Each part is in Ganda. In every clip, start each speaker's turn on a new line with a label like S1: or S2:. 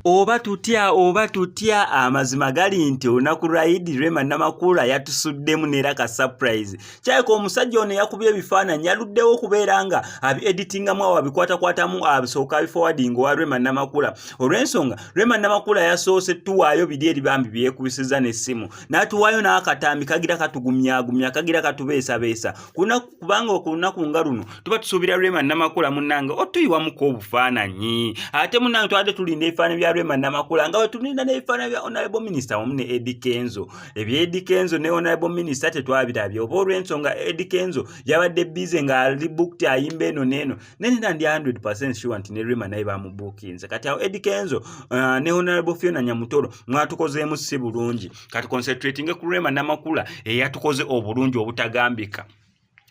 S1: oba tutya oba tutya amazima gali nti olunaku lwa idi rema namakula yatusuddemu neera ka surprise kyayika omusajja ono eyakubye ebifaananyi aluddewo okubeera nga abi editingamu awo abikwatakwatamu asooka abifowadinga owa rema namakula olw'ensonga rema namakula yasoose tuwaayo biri eri bambi byekubisiza n'essimu n'atuwaayo n'akatambi kagira katugumyagumya kagira katubeesabeesa kubanga okulunaku nga luno tuba tusuubira rema namakula munange otuyiwamuko obufaananyi ate munange twabadde tulinda ebifaananyi bya rema namakula nga wetulinda n'ebifaananyi bya onalebo minisita wamu ne edi kenzo ebya Eddy Kenzo ne honorable minister tetwabirabye oba olw'ensonga Eddy Kenzo yabadde bize nga ali booked ayimba eno n'eno naye nina ndi 100% sure nti ne Rema naye bamubuukinze kati awo Eddy Kenzo uh, ne honorable Fiona Nyamutoro mwatukozeemu si bulungi kati concentratinge ku Rema Namakula eyatukoze obulungi obutagambika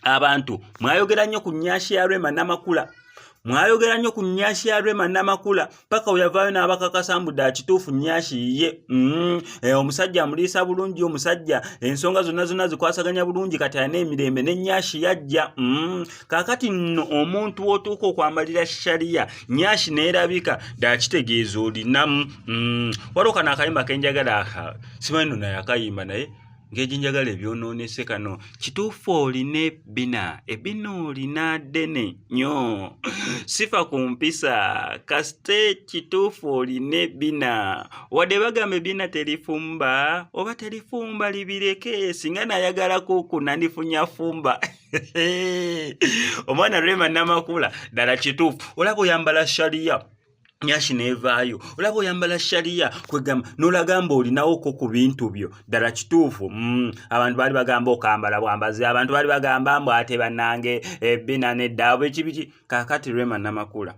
S1: abantu mwayogera nnyo ku nyashi ya rema namakula mwayogera nnyo ku nyashi ya rema namakula paka weyavaayo n'abakakasa mbu dda kituufu nyashi yiye mm-hmm. eh, omusajja amuliisa bulungi omusajja ensonga zonna zonna zikwasaganya bulungi kati alina emirembe ne nyashi yajja mm-hmm. kakati nno omuntu wotuuka okwamalira shariya nyashi neerabika dda kitegeeza olinamu mm-hmm. waliwo kano akayimba kenjagala aka simanyi no naye akayimba naye ngeji njagala ebyonoonese kano kituufu olina ebbina ebbina olina ddene nyo sifa ku mpisa kasite kituufu olina ebbina wadde bagamba ebbina terifumba oba terifumba libireke singa nayagala kuku nandifunya fumba omwana rema namakula ddala kituufu olaba oyambala shaliya nyashi nevaayo olaba oyambala shariya kwegamba nolagamba olinawoko ku bintu byo ddala kituufu mm. abantu baali bagamba okambala bwambazi abantu baali bagamba mbu ate banange ebina eh, neddaabo ekibiki kakati rema namakula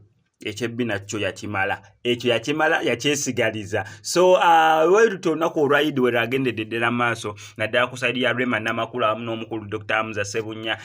S1: ekyebbina kyo yakimala ekyo yakimala yakyesigaliza so uh, weruta olunaku olwaidi weragendedde ddala maaso naddala ku saidi ya rema namakula wamu n'omukulu dr amza sebunya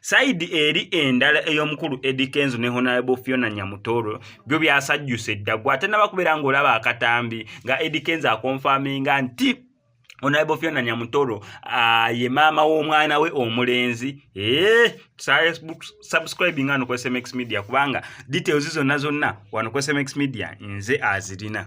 S1: sayidi eri endala ey'omukulu edi kenzo ne honalebo fiona nyamutoro byo byasajjusa eddagwa ate nabakubeera ng'olaba akatambi nga edi kenzo akonfaminga nti onalebo fiona nyamutoro ah, ye maama w'omwana we omulenzi eh, subscribe nga nokwesmx media kubanga details zonna zonna wanokwesmx media nze azirina